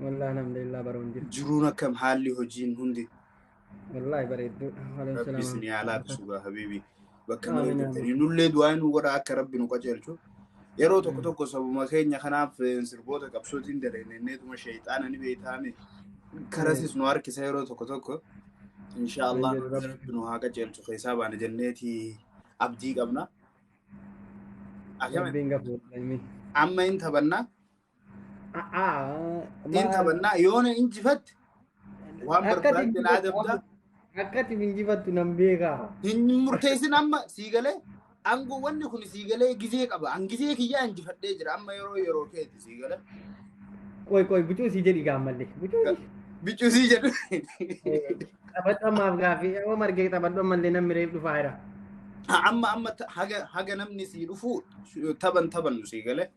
Wallah alhamdulillah baroon jirtu. Jiruun akkam haalli hojiin hundi Wallahi bareedduudha. Waliin rabbi isin yaa salaama. laafisu gaa habiibi bakka Amiin, malee jirtanii amiin. nullee du'aa nu godha akka rabbi nu qajeelchu yeroo tokko tokko sabuma keenya kanaaf eh, sirboota qabsootiin daleenneetuma sheeyxaana ni beeytaame karasis nu harkisa yeroo tokko tokko inshaa allah Hin jedhu rabbi. rabbi nu haa qajeelchu keessaa baana jenneeti abdii qabna akkamitti Rabbiin gafuudha. Amiin. amma hin taphannaa A'aa, Hin maal- qabannaa yoo na injifatte waan Akkati barbaadde hin naa jifattu, dabdaa. akkati hin jifattu nan beekaa. Hin murteessin amma sii galee aangoo wanni kun sii galee gizee qaba. An gizee kiyyaa injifadhee jira amma yeroo yeroo keeti sii galee. Qoy qoy bucuu si jedhi gaammallee. Bucuu si. Biccuu sii jedhu. Taphadhu ammaaf gaaffii yoo margee taphadhu ammallee namni reef dhufaa jira. Amma amma ta- haga haga namni sii dhufu taphan taphannu sii galee.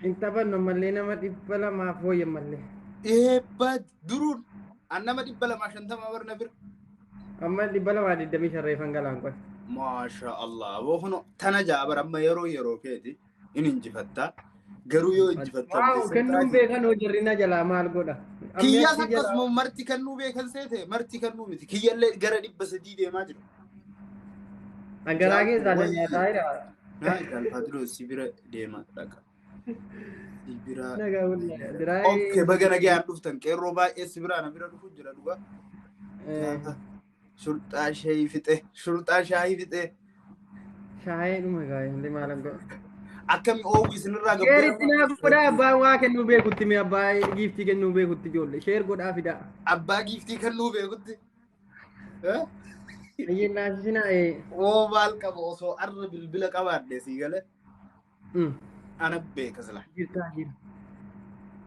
Hin taphannu ammallee nama dhibba lamaaf wayya ammallee. Eebba duruun an nama dhibba lamaa shantama bar na bira. Amma dhibba lamaa digdamii shan reefan galaan qoy. Maasha Allah aboo kuno tana ja'a bar amma yeroo yeroo keeti in injifatta garuu yoo injifatta Waaw kennuun beekan hoo jarri na jalaa maal godha. Kiyyaas Ammeetti jala- akkasuma marti kennuu beekan seete marti kennuu miti kiyyallee gara dhibba sadii deemaa jira. Dhagaraa keessaa na nyaataa jira. Naa ilaalfaa duruu si bira deema dhaqa. Si bira. Nagaa wallaahi. Biraa Okkee baga nagaan dhuftan qeerroo baay'ee si biraa na bira dhufu jira dhugaa. Gaafa Shurxaa shaayii fixee shurxaa shaayii fixee shaayee dhuma gaa hundi maalan godha. akkami oowwi isinirraa Sheeritti naa godhaa abbaa waa kennuu beekutti mee abbaa giiftii kennuu beekutti ijoollee sheer godhaa fidaa. Abbaa giiftii kan nuu beekutti. Biyyiin naasisinaa ee. Oo maal qaba osoo arra bilbila qabaadhe sii gale ana beeka sila. Jirtaa jira.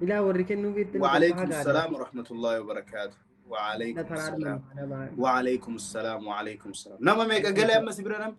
Ilaa warri kennuu beektan. Waaleykum salaam wa rahmatullahi wa barakaatu. Waaleykum salaam. Waaleykum salaam waaleykum salaam. Nama meeqa galee amma si bira namni?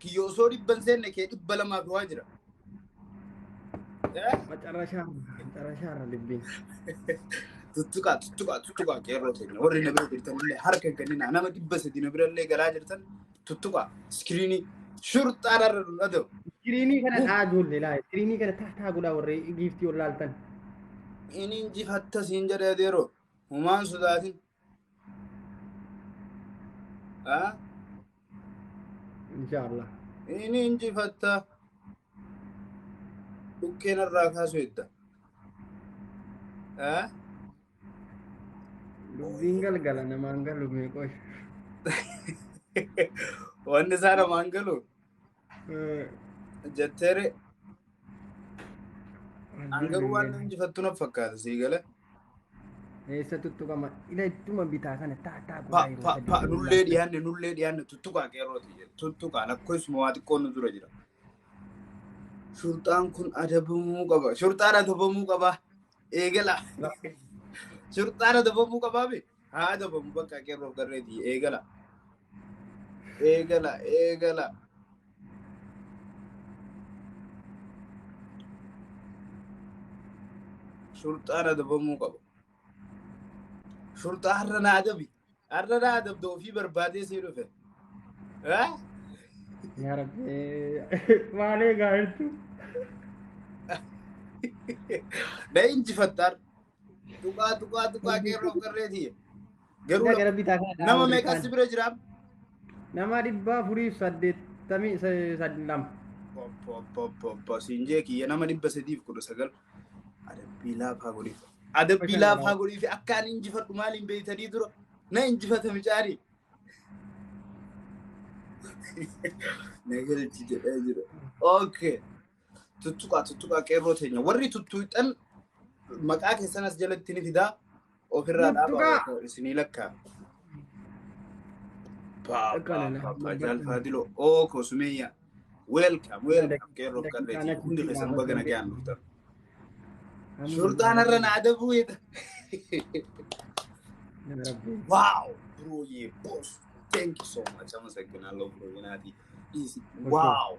Kiyya osoo dhibba hin seenne kee dhibba lamaaf waa jira. Eh? Macarashaa macarashaa irra dubbiin. Tuttuqaa tuttuqaa tuttuqaa qeerroo teenya warri na bira jirtan illee harka hin kenninaa nama dhibba sadi na bira illee galaa jirtan tuttuqaa iskiriinii shurxaa irra nu dhada'u. Iskiriinii kana taa ijoollee laa iskiriinii kana taa taa godhaa warri giiftii ol laaltan. Inni injifatta siin jedhee deeroo humaan sodaatin. Ah, Inshaallah. Inni injifatta dhukkeen irraa kaasu edda. Ah, Dubbiin galgala namaan galu meeqosh. Wanni isaa namaan galu Jetteere an garuu waan nan jifattu na fakkaata sii gala. Eessa tuttuqama? Ila ittuma bitaa kana taa taa Pa godhaa yeroo pa sadii pa yeroo nullee laaftu. dhiyaanne nullee dhiyaanne tuttuqaa qeerrooti jedhe tuttuqaa lakkoofsuma waa xiqqoon nu dura jira. Shurxaan kun adabamuu qaba. Shurxaan adabamuu qaba. Eegala. Shurxaan adabamuu qabaa miti. Haa dabamu bakka qeerroof garreeti. Eegala. Eegala. Eegala. Shurxaan adabamuu qaba. Shurxaa har'a na adabi. Har'a na adabda ofii barbaadee sii dhufe. Haa? Yaa Rabbi. Maalee gaariitu. Na injifatta har'a. Tuqaa tuqaa tuqaa qeerroo qarree tiyya. Garuu Gara bitaa kana nama dhaabuu meeqa kan- si bira jira? Nama dhibba afurii fi saddeettamii se- sad- lama. Poppoppoppo siin jee kiyya nama dhibba sadiif kudha sagal. Adabbii laafaa godhiif. Adabbii laafaa godhiif akka ani injifadhu maaliin beektanii dura na injifata micaanii. Na galchi jedhee jira. Okay. Tuttuqaa tuttuqaa qeerroo teenya warri tuttuuxxan maqaa keessan as jalatti ni fidaa ofirraa Tuttuqaa. dhaabaa isinii lakkaa. Jaalfaadiloo oo koo sumeeyyaa. Welcome welcome qeerroo qarreetii hundi keessan baga nagaan dhuftan. Shurxaan irra na adabuu jedha. Wow, bro, yeah, boss. Thank you so much. I'm a second. I love you, Nati. Easy. Wow.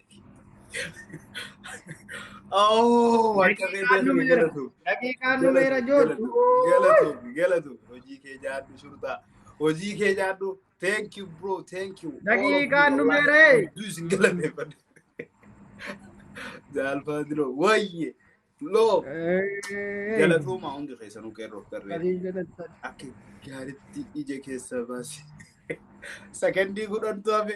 Oh, akka Daqiiqaan beekan dhumeera. galatu. Daqiiqaan dhumeera joodhu. Galatu, galatu. Hojii kee jaadhu shurtaa. Hojii kee jaadhu. Thank you bro, thank you. Daqiiqaan dhumeera. Hedduu isin galateeffadha. Jaalfaa diroo. Wayye. Loo. Galatooma hundi keessanuu qeerroof qarree. Akka gaaritti ija keessa baasi. Sakandii kudhantu hafe.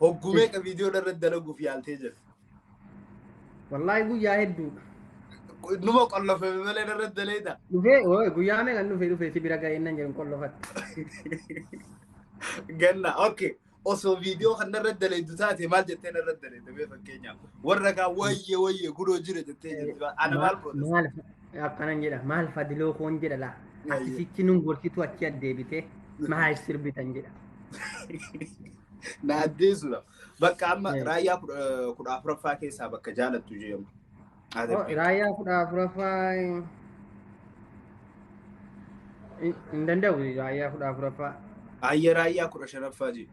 Hogguu meeqa viidiyoo irratti dalaguuf yaaltee jirti? Wallaahi guyyaa hedduudha. Numa qollofame malee irratti daleeta. Dhufee ooy guyyaa meeqan dhufee dhufee si bira ga'ee nan jedhu qollofatte. Ganna okay. Osoo viidiyoo kan irratti daleetu taate maal jettee irratti daleeta mee fakkeenyaaf warra kaan wayyee wayyee gudoo jira jettee jirti. Ana maal godha? Maal akkanan jedha maal fadiloo koon jedha laa Yayye. ati sichi nun gorsitu achi addeebite maal sirbitan jedha Na addeessuudha. Bakka amma Eh. raayyaa kudha kudha afuraffaa keessaa bakka jaalattu jedhamu. Haa Oh, darbii. raayyaa kudha afuraffaa hin hin danda'u raayyaa kudha afuraffaa Ayya raayyaa kudha shanaffaa jedhu.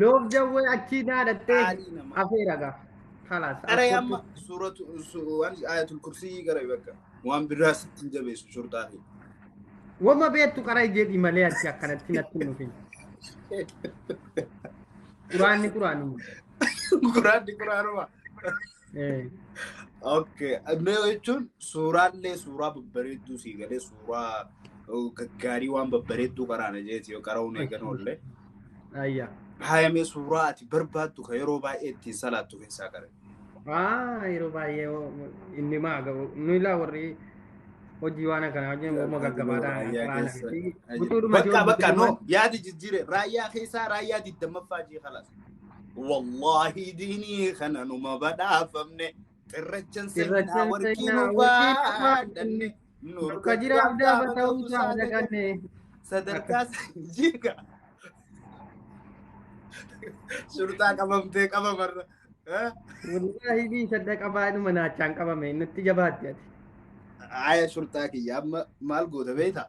Loof jawwee achii naa dhattee Qaalii namaa. afeera gaa. Kalaas. Qaree as amma kottu. suuratu su- waan ayatul kursii qaree bakka waan biraa sitti hin jabeessu shurxaa fi. Wama beektu qaraa jedhi malee ati akkanatti natti hin dhufin. Quraanni quraanuma. Quraanni quraanuma. Okay. Mee jechuun suuraallee suuraa babbareedduu sii galee suuraa gaggaarii waan babbareedduu qaraana jeeti yoo qara'uun eegan oollee. Ayya. Haayamee suuraa ati barbaaddu kan yeroo baay'ee ittiin salaattu keessaa qare. Aa yeroo baay'ee inni maa gabu nu ilaa warri hojii waan akkanaa hojii wamma gaggabaadhaa qaraana fi gutuudhuma Bakka bakka no yaada jijjiire raayyaa keessaa raayyaa digdammaffaa jee kalas. Wallaahi diinii kana numa badhaafamne. Xirrachan seenaa warqii nu baadhanne. Nurka jiraaf daaba ta'uu saada ganne. Sadarkaa jiga. Shurxaa qabamtee qabamarra. Wallaahi bii sadda qabaa dhuma naachaan qabame nutti jabaatti ati. Aya shurxaa kiyya amma maal goota beektaa?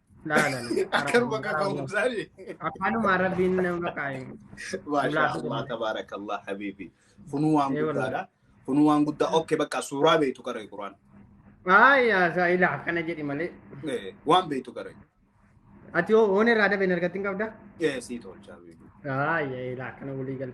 laalani. Akkanuma akka ka'uun isaanii. Afaanuma Arabiin nama kaa'e. Maashaa Allah tabaarakallah habiibi. Kunuu waan Ee, wallahi. guddaadha. Kunuu waan guddaa. Okkee bakka suuraa beektu qaree Quraan. Aayaa isaa ilaa akkana jedhi malee. Eh, Waan beektu qaree. Ati hoo hoon irraa dabeen argattiin qabda? Eh, Sii tolchaa beektu. Aayaa ilaa akkana walii gala.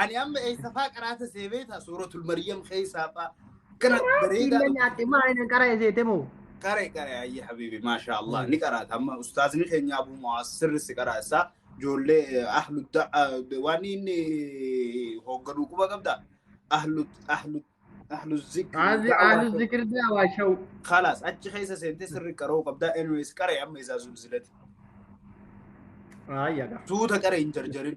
Ani amma eessafaa qaraata see beektaa suuratul Maryam keessaafaa kana bareedaa Illee nyaadde maa inni qara eseete moo? Qare qare ayyi habibi maasha Allah ni qaraata amma ustaazni keenya Abu Mu'aaz sirri si qaraasa ijoollee ahlu waan inni hoogganuu quba qabda ahlu ahlu ahlu Azi alu zikri zikir daa waa sha'u. خلاص achi keessa seentee sirri qaroo qabda anyways qare amma isaa zulzilati Ayya gaa. suuta qare hin jarjarin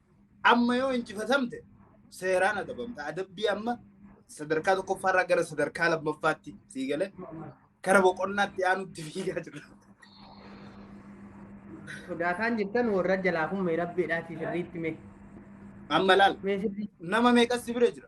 Amma yoo injifatamte seeraan adabamta. Adabbii amma sadarkaa tokkoffaarraa gara sadarkaa lammaffaatti sii galee gara boqonnaatti aanutti fiigaa jira. Sodaataan jirtan warra jalaa kun mee rabbiidhaa fi sirriitti mee. Amma laal Mee sirrii nama meeqas si bira jira.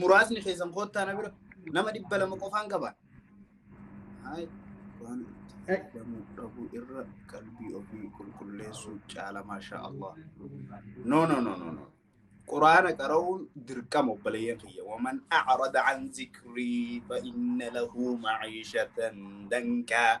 muraasni keessan koottaa na bira nama dhibba lama qofaan qaba. Haay, waan itti fayyadamuu dhabuu irra qalbii ofii qulqulleessuu caala maashaa Allah. No no no no no. Quraana qara'uun dirqama obboleeyyan kiyya. Waman a'rada an zikrii fa inna lahu ma'iishatan dankaa.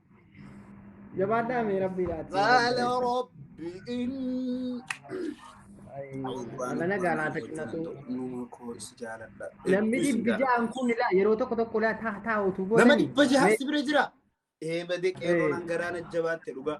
Jabaadhaa mee rabbii laati. Baala rabbi in. Alana gaalaata qinatu. Numa koo si jaaladha. Namni dhibbi ja'an kun ilaa yeroo tokko tokko ilaa taa taa utuu Nama godhani. dhibba jahaaf si bira jira. Eemade qeerroon hangaraana jabaatte dhugaa.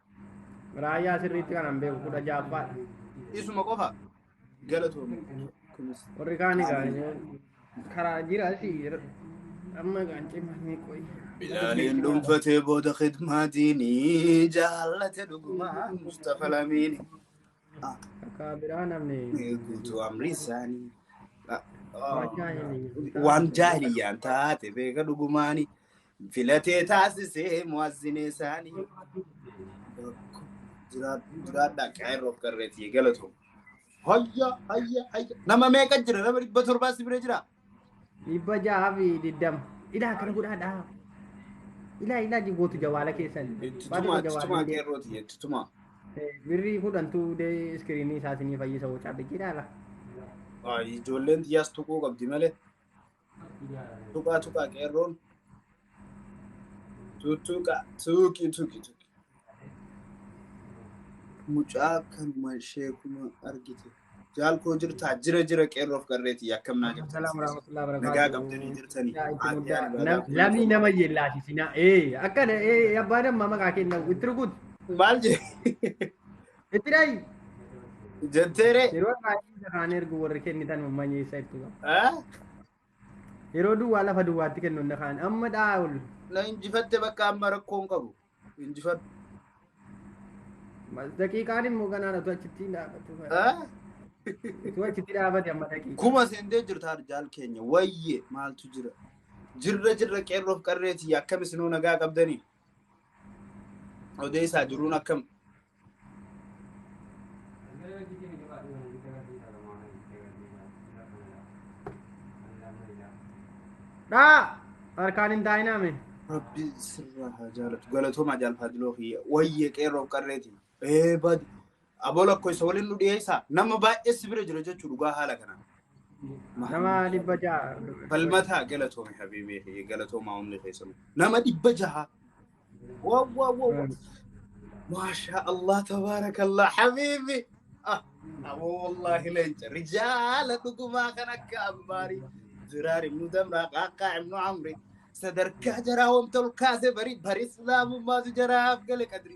Raayyaa sirriitti kanan beeku kudha ja'affaadha. Isuma qofa galatoomi. Kunis Warri kaan egaa karaa jira si amma egaa cimanii qoyi. Bilaaliin dhuunfatee booda khidmaa diinii jaallate dhugumaa Mustafa Lamiini. Ah, Akka biraa namni Guutuu amrii isaanii. Ah, ah. waan jaahiliyyaan taate beeka dhugumaani. Filatee taasisee mu'azzinee isaanii. Jiraadhaa qeerroo qarreetii galatu. Hayya hayya hayya. Nama meeqa jira? Nama dhibba torbaa si bira jira? Dhibba jaha fi diddama. Ilaa kana godhaa dhaa. Ilaa ilaa gootu jawaala keessan. Itti tumaa itti tumaa qeerrooti itti tumaa. Birrii kudhantu dee iskiriinii isaa isinii fayyisa hoo cabbichi ilaala. Ijoolleen xiyyaas tuquu qabdi malee. Tuqaa tuqaa qeerroon. Tuttuqa tuuqi tuqi tuqi. Mucaa kanuma ishee kuma argite. Jaal koo jirtaa jira jira qeerroof garreeti akkam naa jirtan. Salaam warahmatullahi wabarakatuh. Nagaa qabdanii jirtanii. Yaa itti Aaddee muddaa. Albaadhaa Nam- kunuunsa Lamii nama yellaasisinaa. Ee akkana ee abbaa damma maqaa kenna itti rukutu. Maal jee? Itti dhayi. Jetteere. Yeroo baay'ee isa kaan ergu warri kennitan uummanni isa itti qabu. Eh? Yeroo duwwaa lafa duwwaatti kennu inni kaan amma dha'a ol. Na injifatte bakka amma rakkoon qabu. Injifadhu. Daqiiqaan immoo ganaadha utuu achitti hin dhaabatu. Eh? Utuu achitti dhaabate amma daqiiqa. Kuma seentee jirta arjaal keenya. Wayyee maaltu jira? Jirra jirra qeerroof qarreeti akkam isinoo nagaa qabdanii? Odeessaa jiruun akkam? Dhaa! Harkaan hin taa'inaa mee. Rabbi sirraa haa jaalatu. Galatoomaa jaalfaa diloo kiyya. Wayyee qeerroof qarreeti. Ee badi. Aboo lakkoofsa waliin nu dhiyeessaa. Nama baay'ee si bira jira jechuu dhugaa haala kanaan. Nama dhibba ja'a. Falmataa galatoomi habiibii galatoomaa hundi keessanuu. Nama dhibba jaha. Waa waa waa waa. Maashaa Allah tabaarakallah habiibi. Ah, Aboo wallaahi leenca rijaala dhugumaa kan akka ammaarii. Ziraar ibnu damraa qaaqaa ibnu amri. Sadarkaa jaraa wanta ol kaase bari bari islaamummaatu jaraaf gale qadri.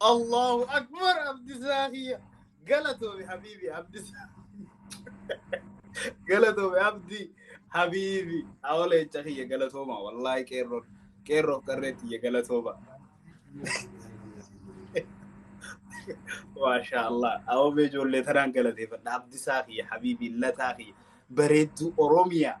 Allahu akbar abdisaa kiyya. Galatoomi habiibi abdisaa. Galatoomi abdi habiibi. Awala jecha kiyya galatooma wallaahi qeerroo qeerroof qarree tiyya galatooma. Maashaa Allah. Awwamee ijoollee tanaan galateeffadha. Abdisaa kiyya habiibi lataa kiyya. Bareedduu Oromiyaa.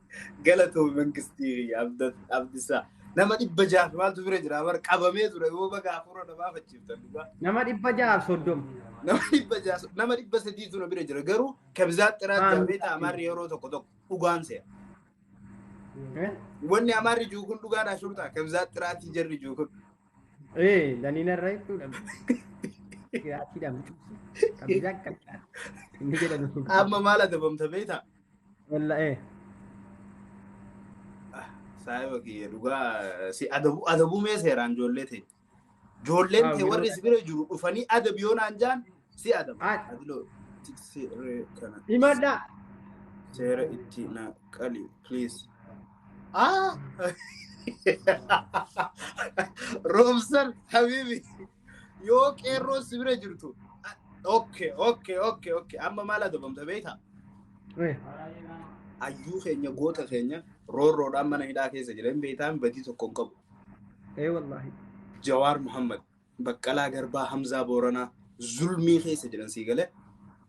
Galatoomi mangistii kiyya abdisaa. Nama dhibba jaaf maaltu bira jira bar qabamee ture yoo baga hafuura na baafachiiftan dhugaa. Nama dhibba jaaf soddoma. Nama dhibba jaaf nama dhibba sadiitu na bira jira garuu kabizaa xiraa Maan- jaafee ta'a amaarri yeroo tokko tokko dhugaan se'a. Eh? Wanni amaarri jiru kun dhugaadhaa shurtaa kabizaa xiraatii jarri jiru kun. Eh, daniina irra jechuudha. Giraatiidhaan cuusi. Kabizaa akka Inni jedhamu. Amma maal adabamta beektaa? Walla ee. Saayiba kiyya dhugaa si adabu adabu mee seeraan ijoollee ta'e. Ijoolleen ta'e warri si bira jiru dhufanii adabi yoo naan jaan si adabu. Ati- Adiloo seera kana Himadhaa. seera itti na qali please. Ah! Roobsan habibi. Yoo qeerroon si bira jirtu. Okke okke okke okke amma maal adabamta beekta? Ayyuu keenya goota keenya roorroodhaan mana hidhaa keessa jira hin beektaan badii tokko hin qabu. Ee wallaahi. Jawaar Muhammad, Baqqalaa Garbaa, Hamzaa Booranaa zulmii keessa jiran sii galee.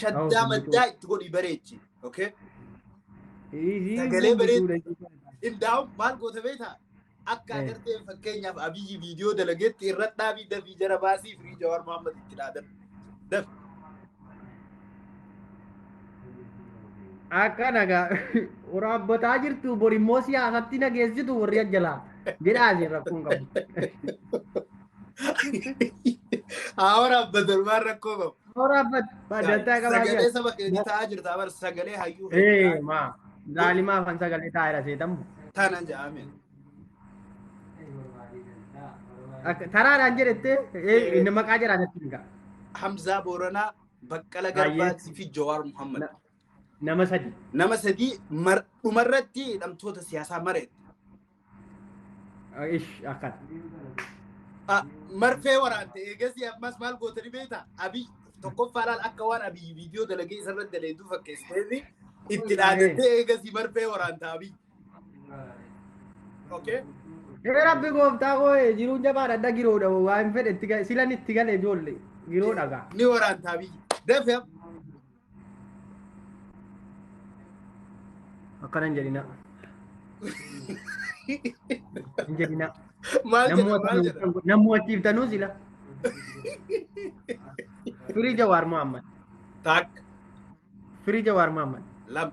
shaddaa maddaa itti godhii bareechi. Okay? Sagalee bareedu. Indaa'uun maal goota beektaa? Akka Eh. agarteen fakkeenyaaf abiyyi viidiyoo dalageetti irra dhaabii dafii jara baasii firii jawaar Muhammad itti dhaadan. Daf. Akka nagaa waraabbataa jirtu bor immoo siyaasatti nageessitu warri ajjalaa jedhaa isin rakkoon qabu. Haa waraabbatan waan rakkoo qabu. Horaa bad- badattaa qabaa Sagalee jira. saba keetii taa'aa jirta bar sagalee hayyuu Ee keetii maa zaalimaa afaan sagalee taa'eera seetamu. taanaan ja'aameen. Akka- Taraadhaan jedhettee ee, inni maqaa jedhaa natti hin ga'a. Hamzaa Booranaa, Baqqala Baay'ee. Garbaatii fi Jawaar Muhammad. Na- Nama sadi. Nama sadii mar- dhumarratti hidhamtoota siyaasaa mareetti. Ish akkan. Ah, marfee waraante eegasii ammas maal goote ni beekta abiy tokkoffaa laal akka waan abiy viidiyoo dalagee isarratti daleedu fakkeessitee fi itti dhaadattee eegasii marfee waraanta abiy. Okay. Ee rabbi gooftaa koo ee, jiruun jabaadha adda giroodha waa hin fedhe itti gale silan itti gale ijoollee giroo dhagaa. Ni waraanta abiy. Dafee Akkana hin jedhina. Hin jedhina. Maal jedha maal jedha? Namuu achi iftanuu sila. Firii Jawaar Muhammad. Taak Firii Jawaar Muhammad. lama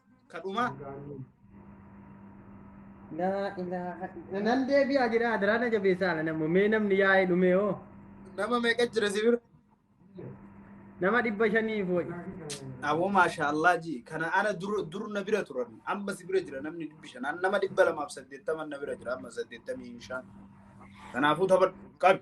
kadhuma Laa ilaaha illa- nan deebi'aa jedha adaraa na jabeessaa ala nammo mee namni yaa'ee dhumee hoo nama meeqa jira si bira nama dhibba shanii fooyi aboo maasha allah ji kana ana dur dur na bira turan amma si bira jira namni dhibbi shan An nama dhibba lamaaf saddeettaman na bira jira amma saddeettamii shan kanaafuu taphadhu qabi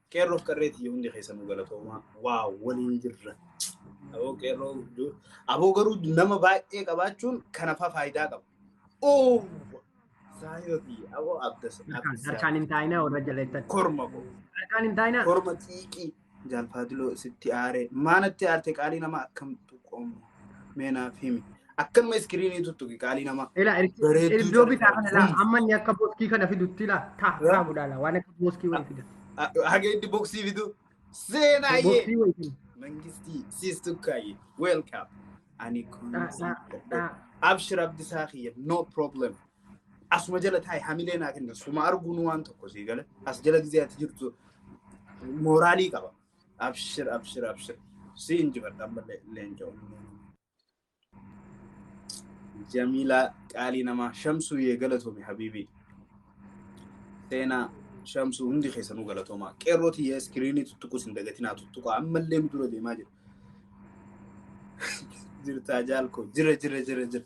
Qeerroof qarree tiyya hundi keessanuu galatoomaa waa waliin jirra. Aboo qeerroo du- aboo garuu nama baay'ee qabaachuun kanafaa faayidaa qaba. Oo saayoo tiyya aboo abdas Harkaan abdas hin taa'inaa warra jaleettatti. korma koo Harkaan hin taa'inaa. korma xiiqii jaalfaadiloo sitti aaree maanatti aarte qaalii nama akkamtu qomu. Mee naaf himi. Akkanuma iskiriinii tuttuqi qaalii namaa. Ila Bareedduu iddoo bitaa taate. kana laa amma inni akka boskii kana fidutti laa taa Yaa. taa godhaa laa waan akka boskii wayii fida. Haga itti boksii fidu. Seenaayyee. Boksii wayii fida. Mangistii siis tukkaayyee. Welcome. Ani kun. Dhaa dhaa dhaa. Abshir Abdisaa kiyya no problem. Asuma jala taa'e hamilee naa kenna. Suma arguun waan tokko sii gala. As jala gizee ati jirtu mooraalii qaba. Abshir abshir abshir. Si injifadha ammallee leencoo. Jamiilaa qaalii namaa shamsuu yee galatoomi habiibii. Seenaa shamsuu hundi keessanuu galatoomaa. Qeerrooti yee iskiriinii tuttuqus hin dagatinaa tuttuqaa ammallee nu dura deemaa jira. Jirtaa jaalkoo jira jira jira jira.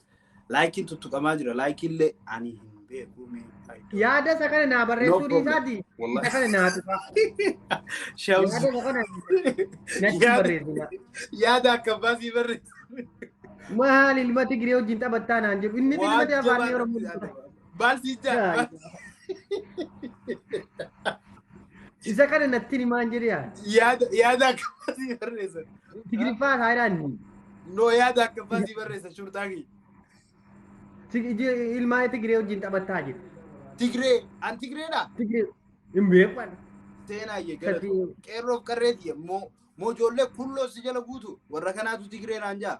Laayikiin tuttuqamaa jira. Laayikiillee ani hin beeku. mee fayyadu. Yaada isa kana naa No barreessuu problem. dhiisaati. Isa Wallahi. kana naa tuqaa. Shamsu. Yaada isa kana natti Yaada- barreessina. Yaada akka baasii barreessu. Maal ilma Tigree wajjin taphattaa naan jedhu. Inni ilma Waan Afaan jabaa Oromoo natti dubbata. yaadama. Maal si jaa? Isa kana natti himaan jedhe yaa. Yaada yaada akkamaa si barreessa. Tigiriffaa saayidaan ni. No yaada akkamaa si barreessa shurxaa kiyya. Ilmaan Tigiree wajjin taphataa jiru. Tigree an Tigreedha. Tigiree hin beekan. Seenaa kiyya gara Sadii. qeerroof qarree kiyya moo moo ijoollee kulloo si jala guutu warra kanaatu Tigree naan jaa.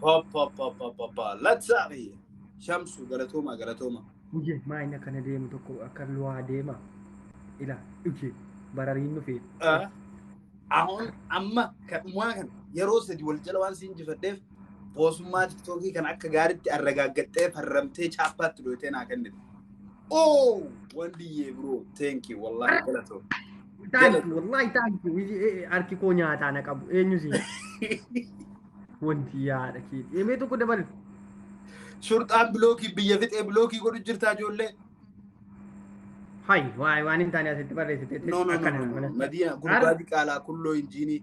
Pop, pop, pop, pop, pop, pop. Let's up here. Shamsu, galatooma, galatooma. Uje maa inni akkana deemu tokko akka luwaa deema. Ila uje barariin nufi. Ah, Ahoon amma kan dhumaa kana yeroo sadi wal jala waan siin jifadheef boosummaa tiktookii kan akka gaariitti arragaaggattee farramtee chaappaatti dhootee naa kennite. Oh, Wandiyee bro, thank you. Wallahi galatoo. Thank you, wallahi thank you. Iji- eh, Harki koo nyaataa na qabu. Eenyu si? Wanti yaada keeti. Emee tokko dabali. Shurxaan bilookii biyya fixee bilookii godhu jirtaa ijoollee. Hayi, waay waan hin taane asitti barreessite. No, no, no, Akkana no, no. mana. Madiina gurbaa diqaalaa kulloo injiinii.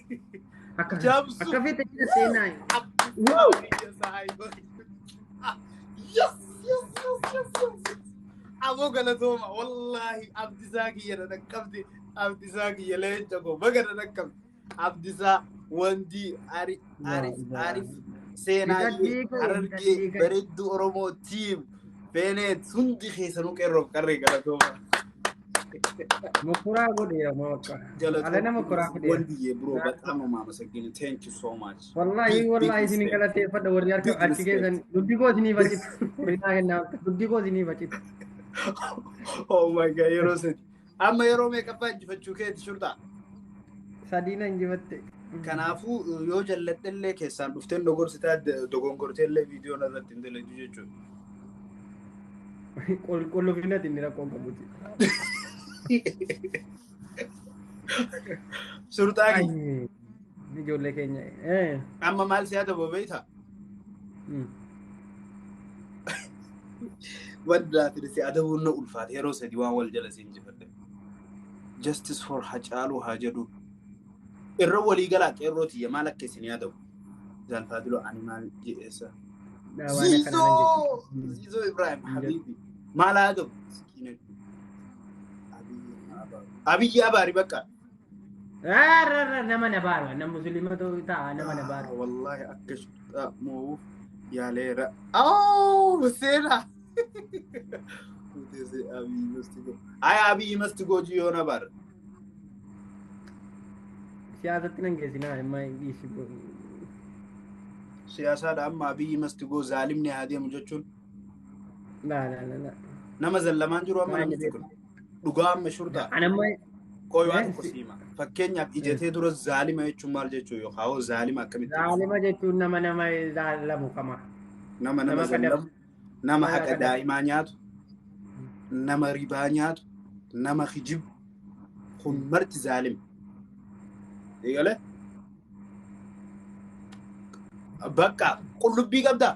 Akka fete- Jabsu. akka fete jira seenaa. Woo! Yes, yes, yes, yes, yes. Aboo galatooma wallaahi abdisaa kiyya na dhaqqabde abdisaa kiyya leenca koo baga na dhaqqabde abdisaa wandii ari ari ari seenaa Hidhadhii koo, harargee hidhadhii koo. bareedduu oromoo tiim Beeneet hundi keessanuu qeerroof qarree galatooma. Mokoraa godhe yaa maqqa. Ala nama koraa fide. Wandiyee bro bataama maama saggina thank you so much. Wallahi wallahi isin galateeffadha warri harka Big achi respect. keessan dubbi koo isinii facitu. Binnaa kennaa dubbi koo isinii facitu. Oh my god yeroo sadi. Amma yeroo meeqaffaa injifachuu keeti shurxaa? Sadii na injifatte. Kanaafuu yoo jalladhellee keessaan dhufteen dogorsitaa dogongorteellee viidiyoon irratti hin dalagdu jechuudha. Qulqullufinati inni rakkoo qabuti. Shurxaa kiyya. Ni ijoollee keenya. Eh. Amma maal si adaba beekta? Mm. Waan duraatiin si adabuun na ulfaate yeroo sadii waan wal jala siin jifadhe. Justice for Hacaaluu haa jedhu. Irra walii galaa qeerroo tiyya maal akka isin yaadamu? Zaalfaadiloo ani maal jedheessa? Dhaa waan akkanaa nan Ziizoo! jechuudha. Ziizoo Ibrahim Habiibi. Maal haa ta'u? Miskiina. Abiyyi Abaari bakka. Rarra nama na baaru annan muslima ta'uu ta'a nama na baaru. Wallaahi akka shiftaa moo'uuf yaaleera. Awoo seera. Utese Abiy must go. Ay Abiy must go jiyoo na bar. Siyaasatti nan geessinaa amma dhiisi godhu. Siyaasaadha amma Abiy must go zaalimni haa deemu jechuun Laa laa laa laa. nama zallamaan jiru amma Maali namichi kun. Dhugaa amma shurxaa. An amma Qoy waan Yes. tokko siima. Fakkeenyaaf ijatee dura zaalima jechuun maal jechuu yookaan hoo zaalima akkamitti ibsu? zaalima jechuun nama nama zaalamu kama. Nama nama nama kadhabu. zallamu, nama Nama haqa kadhabu. daa'imaa nyaatu, nama ribaa nyaatu, nama hijibu. Kun marti zaalima. Eegale? Bakka qullubbii qabdaa?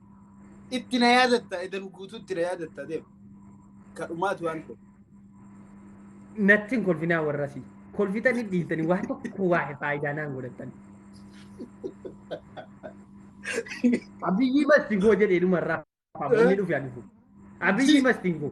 Itti na yaadatta edan guutuutti na yaadatta deema. Kadhumaatu waan ta'e. Natti hin kolfinaa warrasii. Kolfitanii dhiitanii waan tokko waa faayidaa naan godhattan. Abiyyii mastingoo jedhee dhumarraa faamonni dhufe ani kun. Abiyyii mastingoo.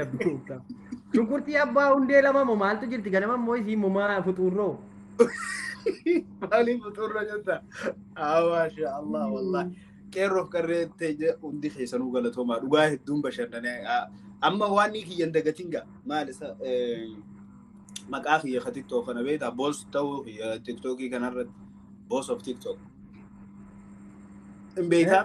Rabbi gooftaa. Shunkurtii abbaa hundee lama moo maaltu jirti ganama immoo isiin mumaa fuxuurroo. Maaliif fuxuurra jirta? Maasha Allah wallahi. Qeerroof qarree ta'e hundi keessanuu galatoomaa dhugaa hedduun bashannanee amma waan ni kiyyan dagatiin gaa maal isa maqaa kiyya ka tiktok kana beektaa boos ta'uu kiyya tiktokii kanarratti boos of tiktok. Hin beekaa?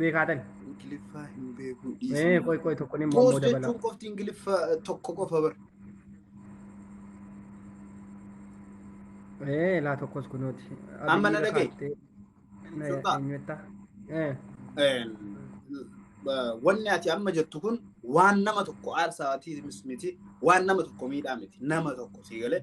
beekaatan. Ingiliffaa hin beeku Ee dhiisuu. qoy qoy tokko ni Poos immoo dabala. jechuun qofti Ingiliffa tokko qofa bar. Ee laa tokkos kunooti. Amma na dhaga'i. Sultaa. Eenyuetta? Ee Een, ba- Wanni ati amma jettu kun waan nama tokko aarsaa ati miti waan nama tokko miidhaa miti nama tokko sii galee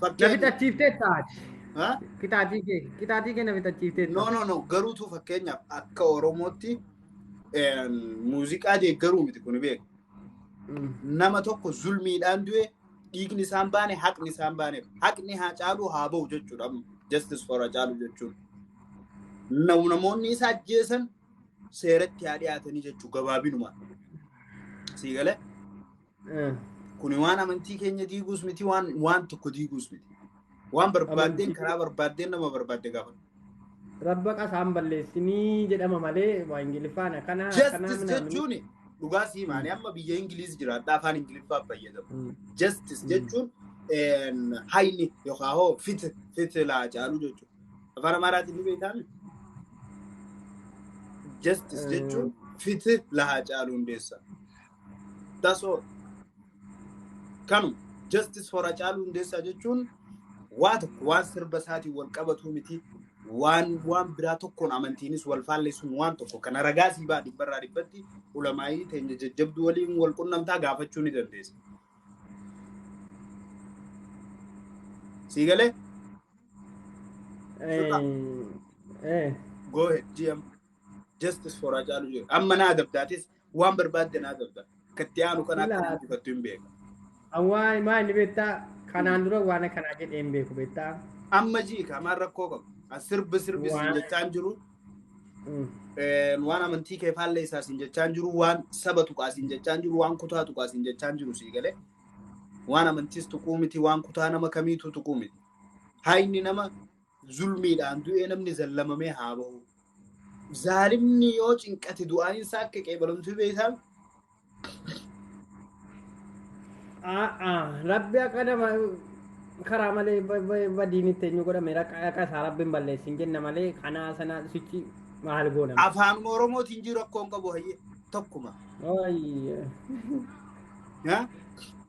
Na Fakkeenya. fixachiiftee taati. Ha? Qixaatii kee qixaatii kee na fixachiiftee No, no, no. Garuutu fakkeenyaaf akka Oromootti eh, muuziqaa deeggaruu miti kun beeku. Nama tokko zulmiidhaan du'e dhiigni isaan baane haqni isaan baane haqni haa caaluu haa ba'u jechuudha. amma. Justice for Hacaaluu jechuun. Na- Namoonni isa ajjeesan seeratti haa dhiyaatanii jechuu gabaabinuma. Sii galee? Kuni waan amantii keenya diiguus miti waan waan tokko diiguus miti. Waan barbaaddeen karaa barbaaddeen nama barbaadde gaafadhu. Rabba qasaan balleessinii jedhama malee waa Ingiliffaan akkanaa akkanaa Justice minaaminii. jechuun dhugaa sii maani amma biyya Ingiliiz jiraadha afaan Ingiliffaa fayyadamu. Mm. Justice jechuun een, hayni yookaan hoo fit fit laa caalu jechuudha. Afaan Amaaraatiin ni beektaami. Justice Eh. jechuun fit laa caalu hundeessa. That's all. Kanu justice for Hacaaluu Hundeessaa jechuun waa tokko waan sirba isaatiin wal qabatuu miti waan waan biraa tokkoon amantiinis wal faalleessuun waan tokko kana ragaa sii ba'a dhibbarraa dhibbatti ulamaa'ii teenya jajjabduu waliin wal qunnamtaa gaafachuu ni dandeessa. Sii galee? Eh, eh. Go ahead GM. Justice for Hacaaluu jedhu. Amma naa dabdaatis Waan barbaadde naa dabda. Katti aanu kana akka Ilaa. guddifattu hin beeka. Awwaa maa inni beektaa kanaan dura waan akkanaa jedhee hin beeku beektaa. Amma ji'i kaamaan rakkoo qabu. As sirbi sirbi siin Waan- jechaan jiru. Mm. Eh, Waan amantii kee faallee isaa siin jechaan jiru. Waan saba tuqaa siin jechaan jiru. Waan kutaa tuqaa siin jechaan jiru sii galee. Waan amantiis tuquu miti. Waan kutaa nama kamiitu tuquu miti. Haayni nama zulmiidhaan du'ee namni zallamamee haa bahu. Zaalimni yoo cinqate du'aan isaa akka qeebalamtu beektaa? A'a, rabbi akka nama karaa malee ba- ba- badiin itti eenyu godhame raqa raqa isaa rabbiin balleessin jenna malee kanaa sanaa sichi maal goonama. Afaan Oromootiin jiru rakkoo hin qabu hayyee tokkuma. Ooyye. Haa?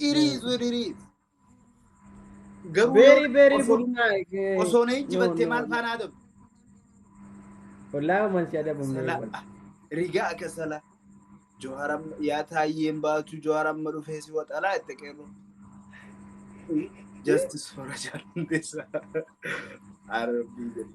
Dhirii isu dhirii. Garuu Very, yoo very osoo- good. Like, osoo na no, ijjibattee no, maal no. faanaa ta'u? Wallaahi man si adabamne. Salaa. Rigaa akka salaa. Johaar amma yaa taayyeen baatu Johaar amma dhufee si waxalaa itti qeerru. Justice for Haacaaluu Hundeessaa. Arabbii jedhi.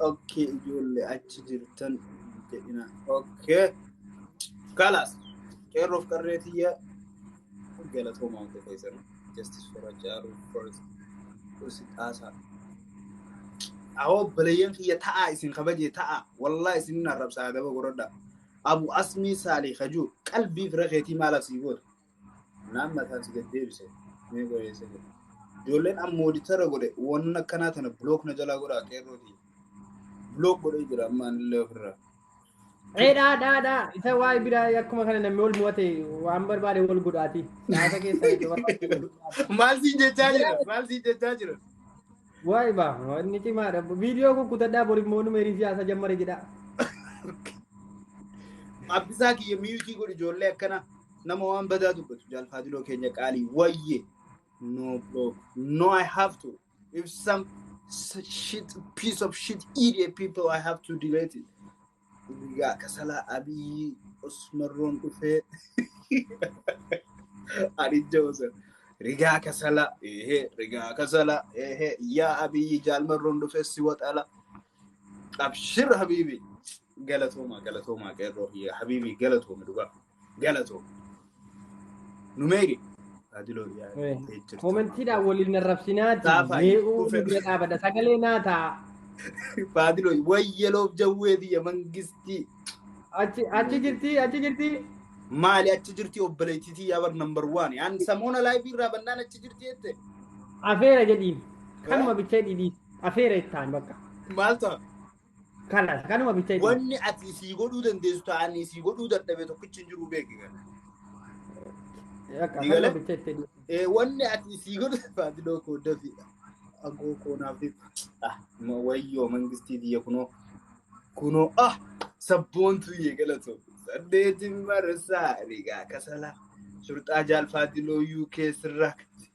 Okkee ijoollee achi jirtan jedhina. Okkee. Kalaas. Qeerroof qarree tiyya galatoomaa hunda keessan. Justice for Haacaaluu first. Usi xaasaa. Awoo baleeyyan kiyya ta'aa isin kabajee ta'aa. Wallaa isin hin arrabsaa adaba godhadha. Abu Asmii Saalii Kajuu qalbii fira keetii maalaaf sii goote? Naan mataan si gad deebise mee qoyeessa jedhe. Ijoolleen an moodicharra godhe waan akkanaa tana bilook na jalaa godhaa qeerrooti. Bilook godhee jira amma anillee ofirraa. Ee dhaa dhaa dhaa isa waa'ee biraa akkuma kana namni wal mo'ate waan barbaade wal godhaati. Siyaasa keessa isa barbaade wal godhaati. Maal siin jechaa jira? Maal siin jechaa jira? Waay baa wanni cimaadha. Viidiyoo kun kutadhaa bor immoo nu meerii siyaasa jammare jedhaa. Abbisaa kiyya miyuutii godhi ijoollee akkana nama waan badaa dubbatu jaalfaadiloo keenya qaalii wayye. No bro. No I have to. If some such shit piece of shit idiot people I have to delete it. Guyyaa kasalaa Abiy Osmarroon dhufee Adijja Osan. Rigaa kasala ehe rigaa kasala ehe yaa Abiy jaalmarroon dhufee si waxala. Abshir habiibi. Galatoomaa galatoomaa qeerroo kiyya habiibi galatoomi dhugaa. Galatoo. Numeeri. Taajiloo dhiyaatee jirtu. Koomentiidhaan waliin narrabsinaati. Gaafa Mee itti uumuu kufe. bira dhaabadha. Sagalee naa ta'a. Taajiloo wayyaloof jawwee biyya mangistii. Achi achi jirti achi jirti. Maali achi jirti obboleettiitii yaa bar number one. An samoona laayivii irraa bannaan achi jirti jette. Afeera jedhiin. Kanuma bichaa dhidhiis. Afeera ittaan bakka. Maal ta'a? Kalas kanuma bicha itti. Wanni ati sii godhuu dandeessu ta'anii sii godhuu dadhabee tokkichi hin jiru beeki kana. Akka Ni kanuma galee? bicha itti. Eh, Wanni ati sii godhuu faadiloo koo dafiidha. Agoo koo naaf dhib. Ah, ma- wayyoo mangistii biyya kunoo. Kunoo ah sabboontu yee galatoo. Saddeetiin marsaa rigaa kasalaa. Surxaa jaal faadiloo UK sirraa qabdi.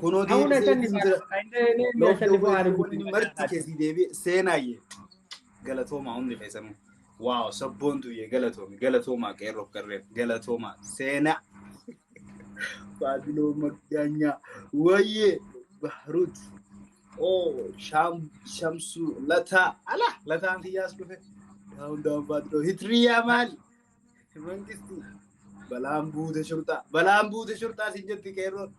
Kunoo Auna deebisee shan ittiin jira. Looftuu Looftuu beektuu wanni marti keessii deebi'e seenaayyee. Galatoomaa hundi keessanuu. Waaw sabboontuyyee galatoomi galatoomaa qeerroof qarreef galatoomaa seenaa. Baabiloo Maggaanyaa wayyee Bahruut. Oo Shaam Shamsuu Lataa ala Lataan kiyyaas dhufe. Daawun daawun Baabiloo Hitriyaa maali? Mangisti balaan buute shurxaa balaan buute shurxaa sin jetti qeerroon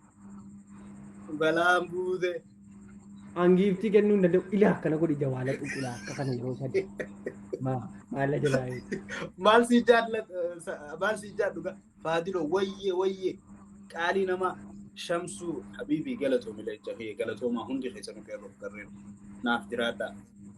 balaan buute. Angiiftii kennuu hin danda'u. Ilaa akkana godhi jawaala xuqulaa akka kana yeroo sadi. Maalla jalaa yoo. Maal si jaalla maal si jaadhu gaa faadilo wayyee wayyee qaalii namaa shamsuu habiibii galatoomi leenca kiyya galatoomaa hundi keessanuu qeerroo garreen naaf jiraadhaa.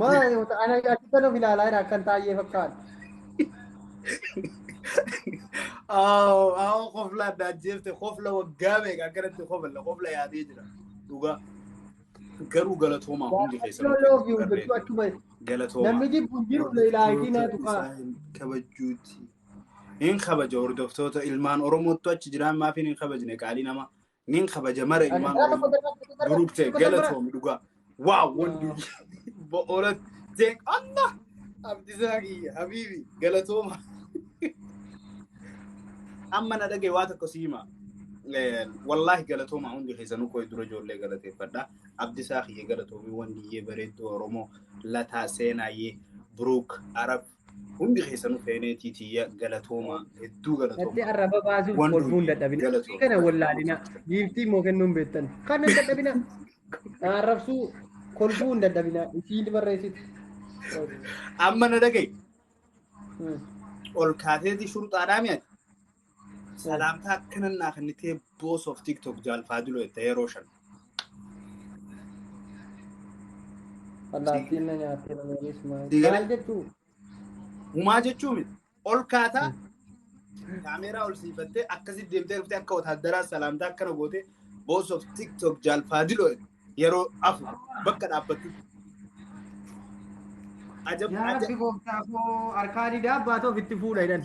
Maal ana akkana of ilaalaa jira akkan taa'ee fakkaata. Aawoo aawoo kofla adda ajjeefte kofla waggaa meeqa akkanatti kofla kofla yaadee jira dhugaa. Garuu galatoomaa hundi keessan Waaqayyo love you jechuu achuma galatoomaa. namni jibbu hin jiru leelaayitii naa tuqaa. kabajuuti. Hin kabaja hordoftoota ilmaan Oromoottu achi jiraan maafiin hin kabajne qaalii nama Nin kabaja mara ilmaan Gara tokko Oromoo. darbaa, tokko darbaa, Buruk ta'e tokko darbaa. galatoomi dhugaa. Waaw wandii bo'oora ta'e Allah abdisaa kiyya habiibi galatooma. Amma na dhagaye waa tokko si hima. Eh, Wallaahi galatooma hundi keessanuu koo dura ijoollee galateeffadha. Abdisaa kiyya galatoomi wandiyyee bareedduu Oromoo lataa seenaayyee Buruk Arab Hundi keessanuu feeneetii tiyya galatoomaa hedduu Natti galatoomaa. arraba baasuuf Waan kolfuun durii dadhabina. galatoomaa. Kana wallaalina. Giiftii immoo kennuun beektan. Kana hin dadhabina. Na arrabsuu kolfuu hin dadhabina. Isiin barreessiti. Amma na dhaga'i. Hmm. Ol kaateetii shurxaadhaa mi'ati. Salaamtaa akkanan naa kennitee boos of tiktok jaalfaadiloo itti yeroo shan. Allaattiin na nyaattee namoonis maal Digalee. maal jechuu? Humaa jechuu miti. Ol kaataa kaameeraa ol siifattee akkasitti deemtee dhuftee akka wataaddaraa salaamtaa akkana gootee boos of tiktok jaalfaadiloo yeroo afu bakka dhaabbattu. Ajab Yaa ajab. rabbi gooftaa koo harkaa didaa baatoo ofitti fuudha jedhan.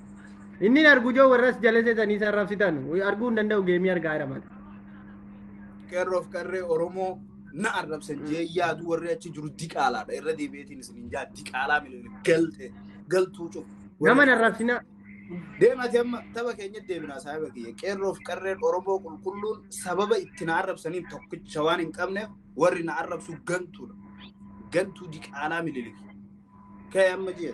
Inni hin argu joo warras jalese sanii san rabsitan. Arguu hin danda'u geemii argaa jira mata. qeerroof qarree Oromoo na arrabsan jee yaadu warri achi jiru diqaalaadha. Irra deebi'eetiin isin hin jaa diqaalaa miliyoona galte galtuu cufu. Nama hin arrabsina. Deemati amma tapha keenya deebinaa saaba kiyya. Qeerroof qarreen Oromoo qulqulluun sababa itti na arrabsaniin tokkicha waan hin qabneef warri na arrabsu gantuudha. Gantuu diqaalaa miliyoona. Ka'e amma jee.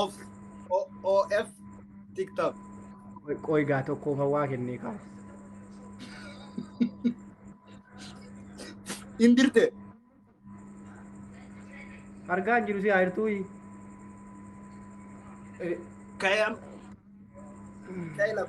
of of tiktok Qoy gaa tokkoof hawaa kennee kaa. hin dirte Argaa hin jiru si haayirtuu kayam kaylam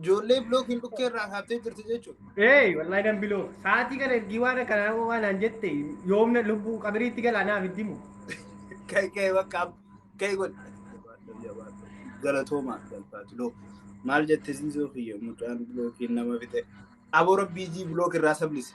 Ijoollee bilookiin dhukkee irraa kaaftee jirti jechuudha. Ee wallahi nan biloo sa'aatii kana ergii waan akkanaa waan naan jette yoomna lubbuu qabiriitti galaa naaf itti himu. Ka'e ka'e bakka ka'e godhe. Galatoomaa galfaatu loo. Maal jette siisoo kiyya mucaan bilookiin nama fixe. Aboo rabbii jii bilook irraa sablise.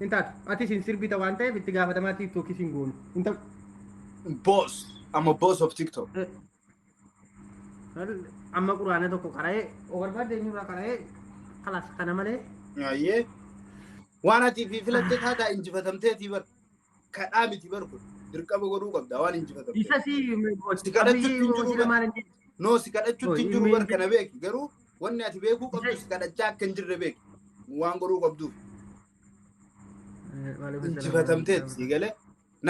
Hin taatu. Atis hin sirbita waan ta'eef itti gaafatamaa tiiktookis hin goonu. Hin ta'u. Boss. I'm a boss of TikTok. Amma quraana tokko qara'ee o barbaadde eenyurraa qara'ee kalas kana malee Ayyee. Waan ati fi filatte taataa injifatamteetii bar. kadhaa miti bar kun dirqama godhuu qabda waan injifatamte. Isa si Si kadhachuutti hin jiru hojii maal hin jedhu. No si kadhachuutti hin jiru bar kana beeki garuu wanni ati beekuu qabdu si kadhachaa akka hin jirre beeki waan godhuu qabduuf injifatamteeti si galee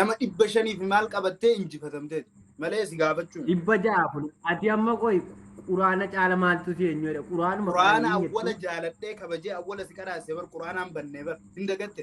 nama dhibba shaniif maal qabattee injifatamteeti malee si gaafachuun. Dhibba ja'a kun ati amma qoy quraana caala maaltu si eenyu jedha quraanuma Quraana hin jettu. awwala jaaladhee kabajee awwala si qaraase bar quraanaan bannee bar hin dagatte.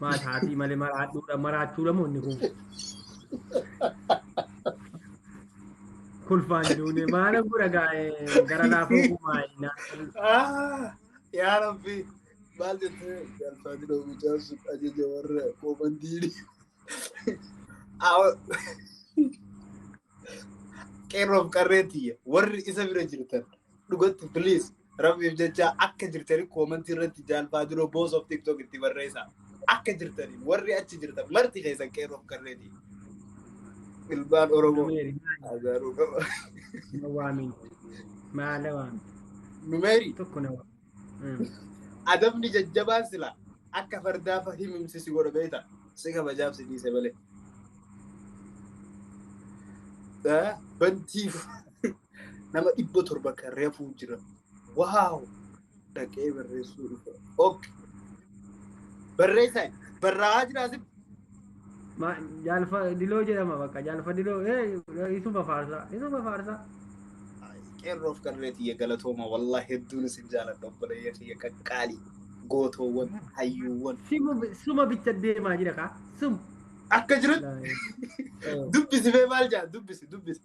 Maal haatii malee maraadhuudha maraachuudha moo inni kun. Kolfaan duune maala gura gaa'ee gara laafuu kumaa innaa. Ah, yaa rabbi maal jettee jaalfaan dhoo mucaan sun ajaja warra koomandiini. Qeerroof qarree tiyya warri isa bira jirtan dhugatti please Rabbiif jecha akka jirtanii koomantii irratti jaalfaa dura boos of tiktok itti barreessa. Akka jirtanii warri achi jirtan marti keessan qeerroof qarreeti. Ilmaan Oromoo azaaruu qaba. Na waamin. Maala waamin. Numeerii Tokko na waamin. adabni jajjabaan sila akka fardaa fa himimsi si godha beekta. Si kabajaaf si dhiise malee. Bantiif. nama dhibba torba kan reefuu jira waaw dhaqee barreessuu dhufa ok barreessan barraa'aa jira asif Ma jaalfa diloo jedhama bakka jaalfa diloo ee isuma faarsaa isuma faarsaa. qeerroof qarree tiyya galatooma wallah hedduun isin jaaladha obboleeyya tiyya qaqqaalii gootoowwan hayyuuwwan Simu suma bicha deemaa jira kaa sum. akka jirutti dubbisi bee maal jaa dubbisi dubbisi